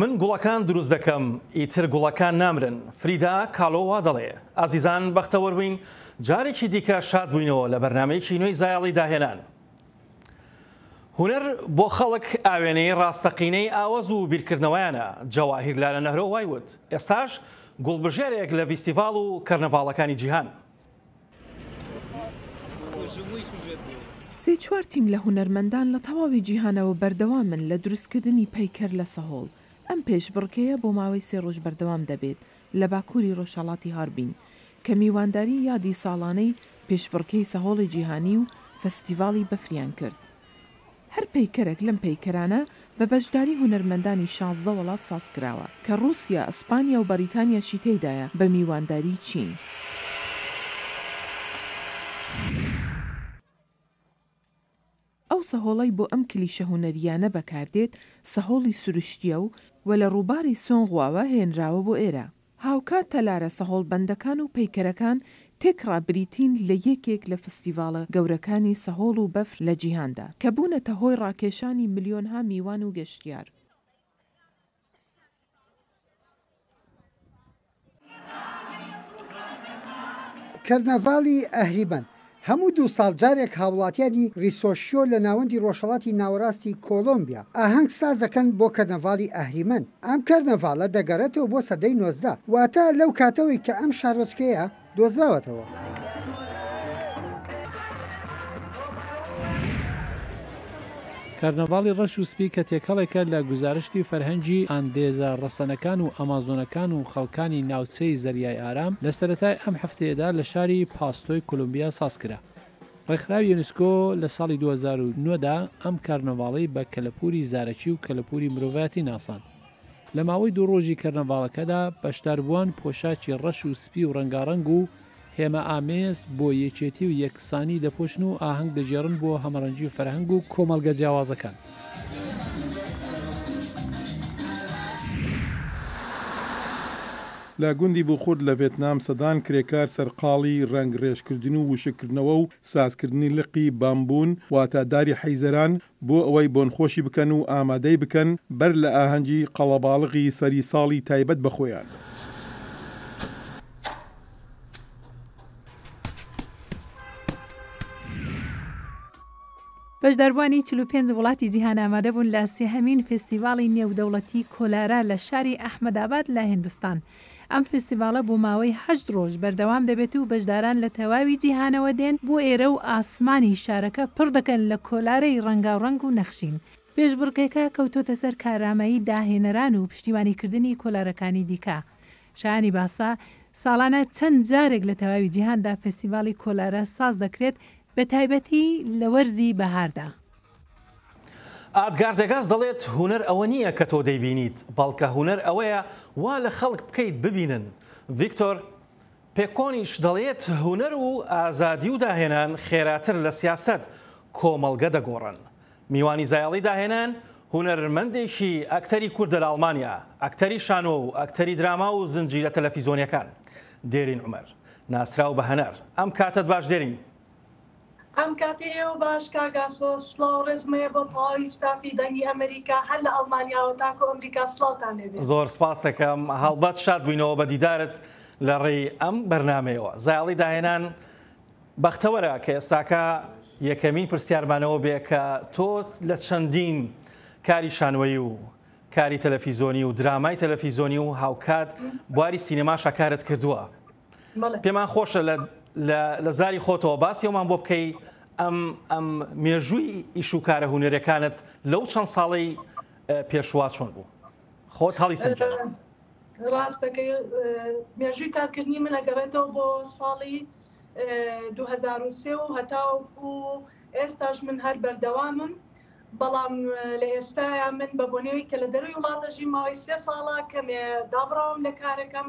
من گوڵەکان دروست دەکەم، ئیتر گوڵەکان نامرن. فریدا کالۆ وا دەڵێ. ئازیزان بەختەوەر بووین جارێکی دیکە شاد بووینەوە لە بەرنامەیەکی نوێی زایەڵی داهێنان. هونەر بۆ خەڵک ئاوێنەی ڕاستەقینەی ئاوەز و بیرکردنەوەیانە، جەواهیر لالە نەهرۆ وای وت، ئێستاش گوڵبژێرێک لە ڤیستیڤاڵ و کەرنەڤاڵەکانی جیهان. سێ چوار تیم لە هونەرمەندان لە تەواوی جیهانەوە بەردەوامن لە دروستکردنی پەیکەر لە سەهۆڵ، ئەم پێشبڕکێیە بۆ ماوەی سێ ڕۆژ بەردەوام دەبێت لە باکووری ڕۆژهەڵاتی هاربین، کە میوانداری یادی ساڵانەی پێشبڕکێی سەهۆڵی جیهانی و فەستیڤاڵی بەفریان کرد. هەر پەیکەرەک لەم پەیکەرانە بە بەشداری هونەرمەندانی شازدە وەڵات ساز کراوە، کە ڕووسیا، ئەسپانیا و بەڕیتانیاشی تێیدایە بە میوانداریی چین. ئەو سەهۆڵەی بۆ ئەم کلیشە هونەرییانە بەکار دێت، سەهۆڵی سروشتییە و و لە ڕووباری سۆنغواوە هێنراوە بۆ ئێرە. هاوکات تەلارە سەهۆڵ بەندەکان و پەیکەرەکان تێکڕا بریتین لە یەکێک لە فستیڤاڵە گەورەکانی سەهۆڵ و بەفر لە جیهاندا، کە بوونەتە هۆی ڕاکێشانی ملیۆنها میوان و گەشتیار. کەرنەڤاڵی ئەهلیبەند هەموو دوو ساڵ جارێک هاوڵاتیانی ریسۆشیۆ لە ناوەندی رۆژهەڵاتی ناوەراستی کۆڵۆمبیا ئاهەنگ ساز دەکەن بۆ کەرنەڤاڵی ئەهریمەن. ئەم کەرنەڤاڵە دەگەڕێتەوە بۆ سەدەی نۆزدە، واتە لەو کاتەوەی کە ئەم شارۆچکەیە دۆزراوەتەوە. کارناڤاڵی ڕەش و سپی کە تێکەڵێکە لە گوزارشتی فەرهەنگی ئاندێزە ڕەسەنەکان و ئەمازۆنەکان و خەڵکانی ناوچەی زەریای ئارام، لە سەرەتای ئەم هەفتەیەدا لە شاری پاستۆی کۆلۆمبیا ساز کرا. ڕێکخراوی یونسکۆ لە ساڵی دوو هەزار و نۆ دا ئەم کارناڤاڵەی بە کەلەپووری زارەکی و کەلەپووری مرۆڤایەتی ناساند. لە ماوەی دوو ڕۆژی کەرناڤاڵەکەدا بەشداربووان پۆشاکی ڕەش و سپی و ڕەنگاڕەنگ و هێما ئامێز بۆ یەکێتی و یەکسانی دەپۆشن و ئاهەنگ دەگێڕن بۆ هەمەڕەنگی و فەرهەنگ و کۆمەڵگە جیاوازەکان. لە گوندی بوخورد لە ڤێتنام سەدان کرێکار سەرقاڵی رەنگڕێژکردن و وشککردنەوە و سازکردنی لقی بامبوون، واتە داری حیزەران، بۆ ئەوەی بۆنخۆشی بکەن و ئامادەی بکەن بەر لە ئاهەنگی قەڵەباڵغی سەری ساڵی تایبەت بە خۆیان. بەشداربووانی چل و پێنج وڵاتی جیهان ئامادەبوون لە سێهەمین فێستیڤاڵی نێودەوڵەتی کۆلارا لە شاری ئەحمەداباد لە هیندستان ئەم فیستیڤاڵە بۆ ماوەی هەشت ڕۆژ بەردەوام دەبێت و بەشداران لە تەواوی جیهانەوە دێن بۆ ئێرە و ئاسمانی شارەکە پڕ دەکەن لە کۆلارەی ڕەنگاوڕەنگ و نەخشین. پێشبڕکێکە کەوتۆتە سەر کارامەیی داهێنەران و پشتیوانیکردنی کۆلارەکانی دیکە. شایانی باسە، ساڵانە چەند جارێک لە تەواوی جیهاندا فیستیڤاڵی کۆلارە ساز دەکرێت، بەتایبەتی لە وەرزی بەهاردا. ئادگار دەگاس دەڵێت، هونەر ئەوە نییە کە تۆ دەیبینیت، بەڵکە هونەر ئەوەیە وا لە خەڵک بکەیت ببینن. ڤیکتۆر پێکۆنیش دەڵێت، هونەر و ئازادی و داهێنان خێراتر لە سیاسەت، کۆمەڵگە دەگۆڕن. میوانی زایەڵی داهێنان، هونەرمەندێکی ئەکتەری کوردە لە ئەڵمانیا، ئەکتەری شانۆ و ئەکتەری دراما و زنجیرە تەلەفیزۆنییەکان. دێرین عومەر، ناسراو بە هەنار. ئەم کاتەت باش دێرین. ئەم کاتی ئێوە باش کاک ئاسۆ. سڵاو و ڕێزم هەیە بۆ تەواوی ستافی دەنگی ئەمەریکا هەر لە ئەڵمانیاوە تاکو ئەمریکا سڵاوتان لێ بێت. زۆر سپاست دەکەم هەڵبەت شاد بووینەوە بە دیدارت لە ڕێی ئەم بەرنامەیەوە. زایەڵی داهێنان بەختەوەرە کە ئێستاکە یەکەمین پرسیارمانەوە بێ کە تۆ لە چەندین کاری شانۆیی و کاری تەلەفیزۆنی و درامای تەلەفیزۆنی و هاوکات بواری سینەماشا کارت کردووە. پێمان خۆشە لە زاری خۆتەوە باسی ئەومان بۆ بکەی ئەم ئەم مێژووی ئیشوکارە هوەرەکانت لەو چەند ساڵی پێشوا چۆن بوو خۆت هەڵی سەر ڕاستەکەی مێژووی کارکردنی من ئەگەڕێتەوە بۆ ساڵی 2023 و هەتاوەکو ئێستاش من هەر بەردەوامم بەڵام لە ئێستایا من بە بۆنەوەی کە لە دەروی وڵاتەژی ماوەی سێ ساڵە کەمێ دابڕاوم لە کارەکەم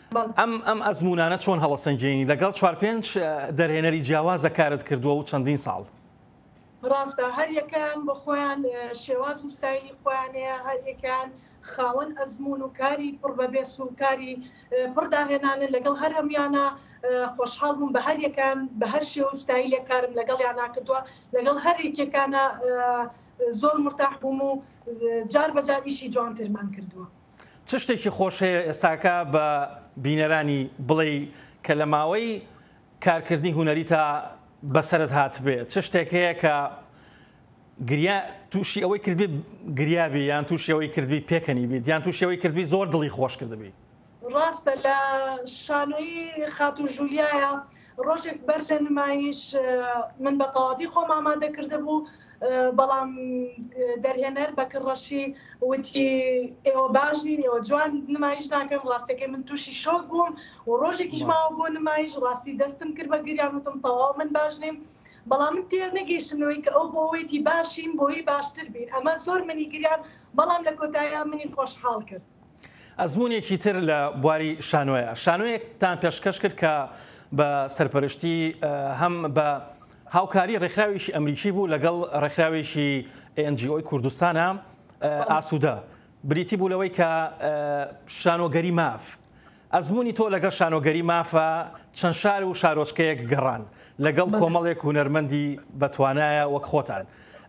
ئەم ئەزموونانە چۆن هەڵەسەنگێنی لەگەڵ چوار پێنج دەرهێنەری جیاوازە کارت کردووە و چەندین ساڵ؟ ڕاستە هەر یەکەیان بۆ خۆیان شێواز و ستایلی خۆیان هەیە، هەر یەکەیان خاوەن ئەزموون و کاری پڕ بە بێس و کاری پڕ داهێنانن، لەگەڵ هەر هەموویانا خۆشحاڵ بووم، بە هەر یەکەیان بە هەر شێوە و ستایلێک کارم لەگەڵیانا کردووە، لەگەڵ هەر یەکێکانا زۆر مورتاح بووم و جار بە جار ئیشی جوانترمان کردووە. چ شتێکی خۆش هەیە ئێستاکە بە بینەرانی بڵێی کە لە ماوەی کارکردنی هونەری تا بەسەرت هاتبێ چ شتێک هەیە کە گریا تووشی ئەوەی کردبی گریابی یان تووشەوەی کردبی پێکەنی بیت یان تووشەوەی کردبی زۆر دڵی خۆش کردبی ڕاستە لە شانۆی خاتو ژولیایە ڕۆژێک بەر لە نمایش من بە تەواوەتی خۆم ئامادە کردبوو، بەڵام دەرهێنەر بەکر ڕەشی وتی ئێوە باش نین، ئێوە جوان نمایش ناکەن، ڕاستەکەی من تووشی شۆک بووم و ڕۆژێکیش ماوە بۆ نمایش، ڕاستی دەستم کرد بە گریان وتم تەواو من باش نیم، بەڵام من تێنەگەیشتم لەوەی کە ئەو بۆ وتی باشین بۆی باشتر بین، ئەمە زۆر منی گریاند، بەڵام لە کۆتاییا منی خۆشحاڵ کرد. ئەزموونێکی تر لە بواری شانۆیە، شانۆیەکتان پێشکەش کرد کە بە سەرپەرشتی هەم بە هاوکاری ڕێکخراوێکی ئەمریکی بوو لەگەڵ ڕێکخراوێکی NGO کوردستانە ئاسوودە، بریتی بوو لەوەی کە شانۆگەری ماف، ئەزموونی تۆ لەگەڵ شانۆگەری مافە چەند شار و شارۆچکەیەک گەڕان لەگەڵ کۆمەڵێک هونەرمەندی بەتوانایە وەک خۆتان،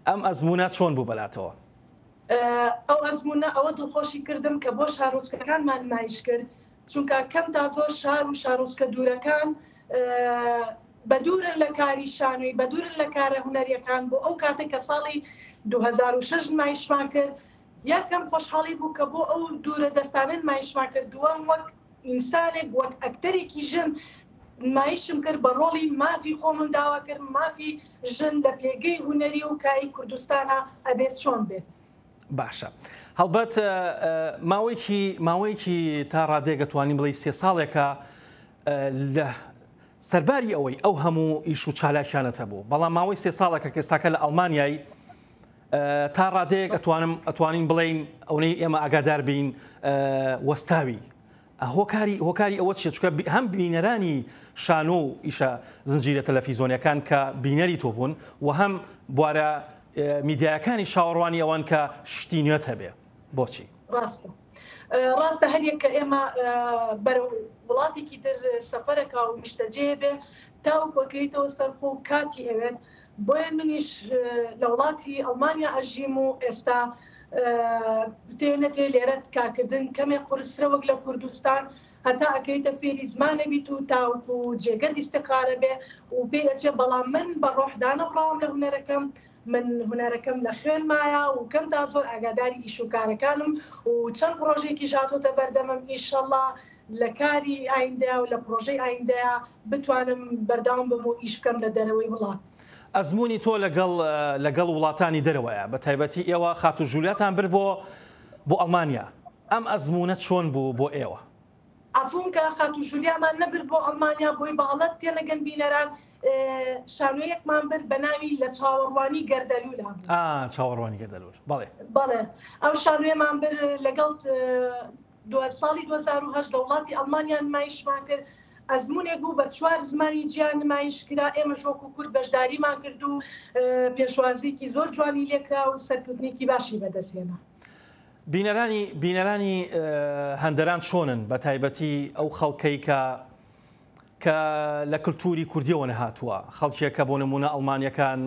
ئەم ئەزموونە چۆن بوو بەلاتەوە؟ ئەو ئەزموونە ئەوە دڵخۆشی کردم کە بۆ شارۆچکەکانمان نمایش کرد، چونکە کەم تا زۆر شار و شارۆچکە دوورەکان بە دوورن لە کاری شانۆی، بە دوورن لە کارە هونەرییەکان، بۆ ئەو کاتەی کە ساڵی دوو هەزار و شەش نمایشمان کرد، یەکەم خۆشحاڵی بوو کە بۆ ئەو دوورە دەستانە نمایشمان کرد، دووەم وەک. ئینسانێک وەک ئەکتەرێکی ژن نمایشم کرد بە ڕۆڵی مافی خۆمم داوا کرد مافی ژن لە پێگەی هونەری و کای کوردستانا ئەبێت چۆن بێت؟ باشە هەڵبەت ماوەیەکی ماوەیەکی تا ڕادێک دەتوانین بڵێ سێ ساڵێکە لە سەرباری ئەوەی ئەو هەموو ئیش و چالاکیانەتە بوو بەڵام ماوەی سێ ساڵەکە کەساکە لە ئەڵمانیای تا ڕادەیەک ئەتوانم ئەتوانین بڵین ئەونەی ئێمە ئاگادار بین وەستاوی هۆکاری هۆکاری ئەوە چیە چکە هەم بینەرانی شانۆ و ئیشە زنجیرە تەلەفیزۆنیەکان کە بینەری تۆ بوون و هەم بوارە میدیایەکانی شاوەڕوانی ئەوان کە شتی نوێت هەبێ بۆچی ڕاستە ڕاستە هەریەک کە ئێمە بەرە وڵاتێکی تر سەفەرەکە و نیشتەجێ بێ تاو کۆکەیتەوە سەرخۆ کاتی ئەوێت بۆیە منیش لە وڵاتی ئەڵمانیا ئەژیم و ئێستا بتێ نەتێ لێرەت کارکردن کەمێ قورسترە وەک لە کوردستان هەتا ئەکەیتە فێری زمانە بیت و تاوکو و جێگەت ئیسقارە بێ و پێ ئەچێ بەڵام من بە ڕۆحدانە بڕاوم لە هوەرەکەم من هوەرەکەم لە خوێن مایە و کەم تا زۆر ئاگاداری ئیش و کارەکانم و چەند پرۆژێکی ژاتۆتە بەردەمم ئیشەڵا لە کاری ئایندە و لە پرۆژەی ئایندەیە بتوانم بەردەوام بم و ئیش بکەم لە دەرەوەی وڵات. ئەزموونی تۆ لەگەڵ لەگەڵ وڵاتانی دەرەوەیە بە تایبەتی ئێوە خاتوو ژولیاتان برد بۆ بۆ ئەڵمانیا ئەم ئەزموونە چۆن بوو بۆ ئێوە؟ عەفوم کە خاتوو ژولیامان نەبرد بۆ ئەڵمانیا بۆی بەاڵەت تێنەگەن بینەران شانۆیەکمان برد بە ناوی لە چاوەڕوانی گەردەلوولا بوو ئا چاوەڕوانی گەردەلوول بەڵێ بەڵێ ئەو شانۆیەمان برد لەگەڵ دوای ساڵی دوو هەزار و هەشت لە وڵاتی ئەڵمانیا نمایشمان کرد، ئەزموونێک بوو بە چوار زمانی جیا نمایش کرا، ئێمەش وەکو کورد بەشداریمان کرد و پێشوازییەکی زۆر جوانی لێ کرا و سەرکەوتنێکی باشی بەدەست هێنا. بینەرانی بینەرانی هەندەران چۆنن بە تایبەتی ئەو خەڵکەی کە کە لە کللتوری کوردیەوە نەهاتووە خەڵکێک کە بۆ نمونە ئەڵمانیەکان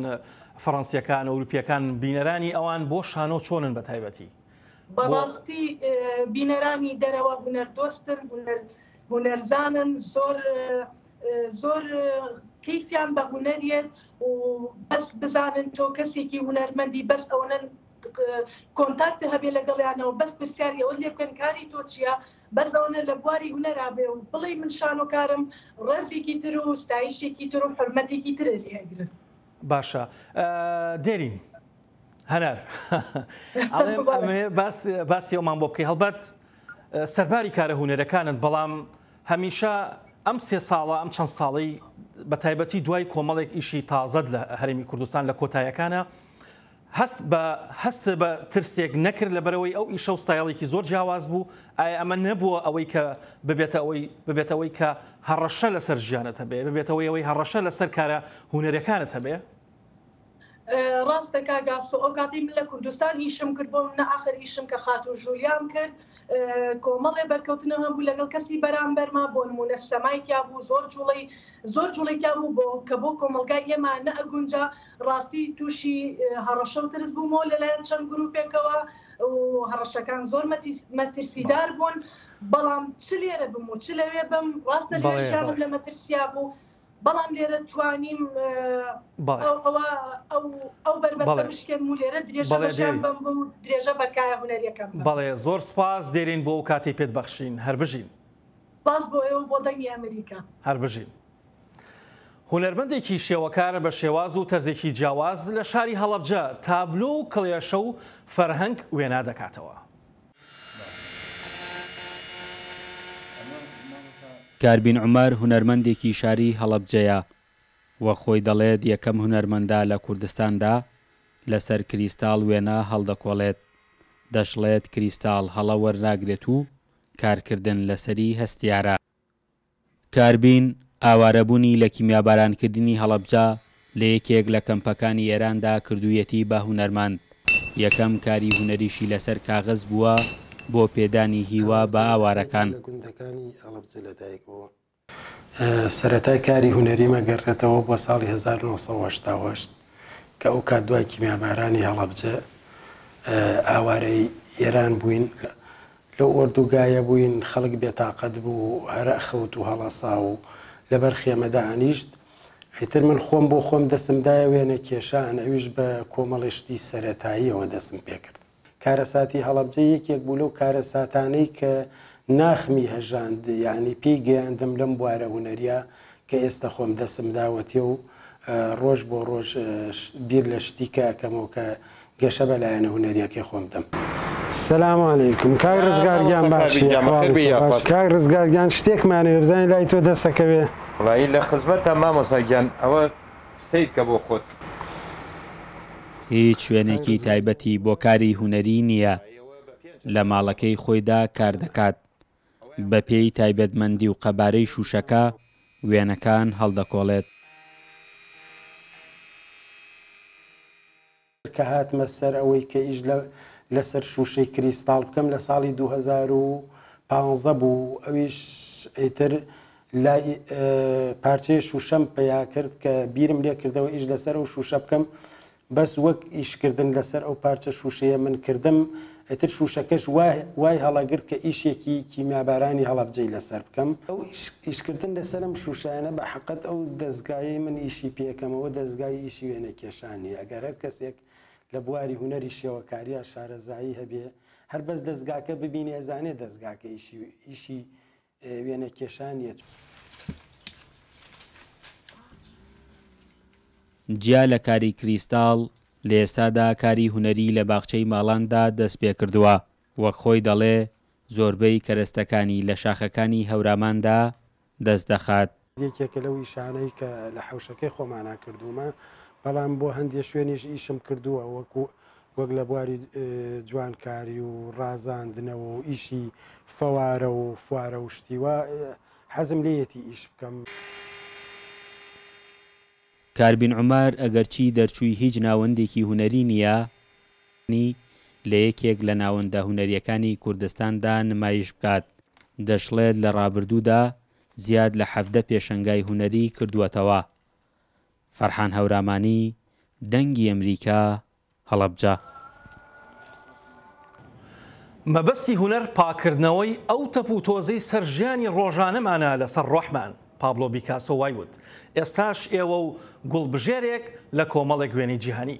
فەڕەنسیەکان ئەوروپیەکان بینەرانی ئەوان بۆ شانۆ چۆنن بە تایبەتی بەڕاستی بینەرانی دەرەوە هونەردۆستن هونەرزانن زۆر زۆر کەیفیان بە هونەریێت و بەس بزانن تۆ کەسێکی هونەرمەندی بەس ئەوەن کۆنتاکت هەبێ لەگەڵیانەوە بەس پرسیاری ئەوە لێ بکەن کاری تۆ چییە بەس ئەوەنە لە بواری هونەرابێ و بڵێ من شانۆکارم ڕێزێکی تر و ستایشێکی تر و حرمەتێکی ترە لێگرن باشە دێرین هەنار ئەڵێم ئەمێ باسی ئەومان بۆ بکەی هەڵبەت سەرباری کارە هوەرەکانت بەڵام هەمیشە ئەم سێ ساڵە ئەم چەند ساڵی بە تایبەتی دوای کۆمەڵێک ئیشی تازەت لە هەرمی کوردستان لە کۆتایەکانە هەست بە هەست بە ترسێک نەکرد لە بەرەوەی ئەو ئیشە و ستایڵێکی زۆر جیاواز بوو ئایا ئەمە نەبووە ئەوەی کە ببێتە ئەوەی ببێتەوەی کە هەڕەشە لەسەر ژیانەتە بێ ببێتەوەی ئەوەی هەڕەشە لەسەر کارە هوەرەکانت هەبێ ڕاستە کاک ئاسۆ ئەو کاتەی من لە کوردستان ئیشم کرد بۆ منە ئاخر ئیشم کە خاتوو ژولیام کرد کۆمەڵێ بەرکەوتنە هەم بوو لەگەڵ کەسی بەرامبەرما بۆ نمونە سەمای تیا بوو زۆر جوڵەی زۆر جوڵەی تیا بوو بۆ کە بۆ کۆمەلگای ئێمە نەئەگونجا ڕاستی تووشی هەڕەشە و ترس بوومەوە لەلایەن چەند گروپێکەوە هەڕەشەکان زۆر مەترسیدار بوون بەڵام چ لێرە بم و چ لەوێ بم ڕاستە لێشیانم لە مەترسیا بوو بەڵام لێرە توانیم ئەو بەربەستە بشکێنم و لێرە درێژە بە ژیان بەم و درێژە بە کایە هونەریەکەم بەم. بەڵێ زۆر سوپاس دێرین بۆ ئەو کاتەی پێت بەخشین. هەر بژین. سوپاس بۆ ئێوە و بۆ دەنگی ئەمریکا. هەر بژین. هونەرمەندێکی شێوەکار بە شێواز و تەرزێکی جیاواز لە شاری هەڵەبجە تابلۆ و کڵێشە و فەرهەنگ وێنا دەکاتەوە. کاربین عومەر هونەرمەندێکی شاری هەڵەبجەیە، وەک خۆی دەڵێت یەکەم هونەرمەندە لە کوردستاندا لەسەر کریستاڵ وێنە هەڵدەکۆڵێت، دەشڵێت کریستاڵ هەڵە وەرناگرێت و کارکردن لەسەری هەستیارە. کاربین، ئاوارەبوونی لە کیمیابارانکردنی هەڵەبجە لە یەکێک لە کەمپەکانی ئێراندا کردوویەتی بە هونەرمەند، یەکەم کاری هونەریشی لەسەر کاغەز بووە بۆ پێدانی هیوا بە ئاوارەکان. سەرەتای کاری هونەریم ئەگەڕێتەوە بۆ ساڵی هەزار و نۆ سەد و هەشتا و هەشت کە ئەوکات دوای کیمیابارانی هەڵەبجە ئاوارەی ئێران بووین، لەو ئۆردوگایە بووین خەڵک بێتاقەت بوو هەرئ خەوت و هەڵەسا و لەبەر خێمە دائەنیشت ئیتر من خۆم بۆ خۆم دەسم دایە وێنە کێشان ئەویش بە کۆمەڵێ شتی سەرەتاییەوە دەسم پێکرد کارەساتی هەڵەبجە یەکێک بوو لەو کارەساتانەی کە ناخمی هەژاند یانی پێی گەیاندم لەم بوارە هونەریە کە ئێستا خۆم دەسم داوەتێ و ڕۆژ بۆ ڕۆژ بیر لە شتیکە ئەکەمەوە کە گەشە بە لایەنە هونەریەکەی خۆم دەم. سلام علیکم کاک ڕزگار گیان باشی کاک ڕزگار گیان شتێکمانەوێ بزانین لای تۆ دەسەکەوێ ڕایی لە خزمەتە مامۆسا گیان ئەوە سیرکە بۆ خۆت. هیچ شوێنێکی تایبەتی بۆ کاری هونەری نییە لە ماڵەکەی خۆیدا کار دەکات بەپێی تایبەتمەندی و قەبارەی شووشەکە، وێنەکان هەڵدەکۆڵێت. کە هاتمە سەر ئەوەی کە ئیش لەسەر شووشەی کریستاڵ بکەم، لە ساڵی دوو هەزار و پازدە بوو، ئەویش ئیتر لای پارچەیە شووشەم پەیا کرد کە بیرم لێ کردەوە ئیش لەسەر ئەو شووشە بکەم، بەس وەک ئیش کردن لەسەر ئەو پارچە شوشەیە من کردم ئیتر شوشەکەش وای هەڵەگرت کە ئیشێکی کیمیابارانی هەڵەبجەی لەسەر بکەم. ئەو ئیش کردن لەسەر ئەم شوشەیانە بەحەقت ئەو دەزگایەی من ئیشی پێکەمەوە دەزگای ئیشی وێنە کێشانیە ئەگەر هەر کەسێک لە بواری هونەری شێوەکاریا شارەزایی هەبێ هەر بەس دەزگاکە ببینێ ئەزانێ دەزگاکە ئیشی ئیشی وێنە کێشان یە. جیا لە کاری کریستاڵ، لە ئێستادا کاری هونەری لە باخچەی ماڵاندا دەست پێ کردووە. وەک خۆی دەڵێ، زۆربەی کەرەستەکانی لە شاخەکانی هەوراماندا دەست دەخات. یەکێکە لەو ئیشانەی کە لە حەوشەکەی خۆمانا کردوومە بەڵام بۆ هەندێک شوێنیش ئیشم کردووە وەکو وەک لە بواری جوانکاری و ڕازاندنەوە و ئیشی فەوارە و فوارە و شتیوە حەزم لێیەتی ئیش بکەم. کاربین عومەر ئەگەرچی دەرچووی هیچ ناوەندێکی هونەری نییە، بەڵام توانی لە یەکێک لە ناوەندە هونەرییەکانی کوردستاندا نمایش بکات، دەشڵێت لە ڕابردوودا، زیاد لە حەڤدە پێشەنگای هونەریی کردووەتەوە. فەرحان هەورامانی، دەنگی ئەمریکا، هەڵەبجە. مەبەستی هونەر پاککردنەوەی ئەو تەپ و تۆزەی سەر ژیانی ڕۆژانەمانە لەسەر ڕۆحمان، پابلۆ بیکاسۆ وای وت، ئێستاش ئێوە و گوڵبژێرێک لە کۆمەڵێک وێنەی جیهانی.